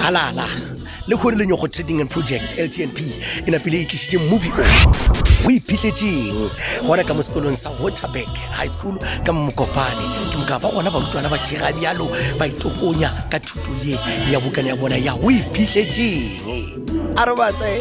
halala le kgore le nyoko trading and projects ltnp e napile e tlisitše movie o o iphitletseng gona ka mo sekolong sa waterback high school ka momokopane ke moka ba gona barutwana ba šega bjalo ba itokonya ka thuto ye ya bokana ya bona ya o iphitletseng a re batse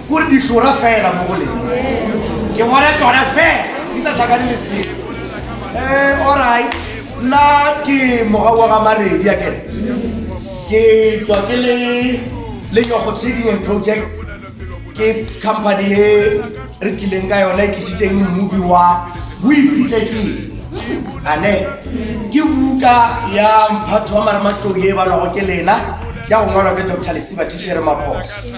Gore di hlora fela mo go lena. Ke bona tsona fela. Di sa tlhakane le se. Eh, all right. Nna ke moga wa ga Maredi ya kere. Ke tswa ke le le Nyogo Trading and Projects. Ke company e re tlileng ka yona e tlisitseng movie wa o iphitlhetseng ane ke buka ya mphatho wa marematlou e balwago ke lena ya go ngwalwa ke dr lesiba tishere maphoso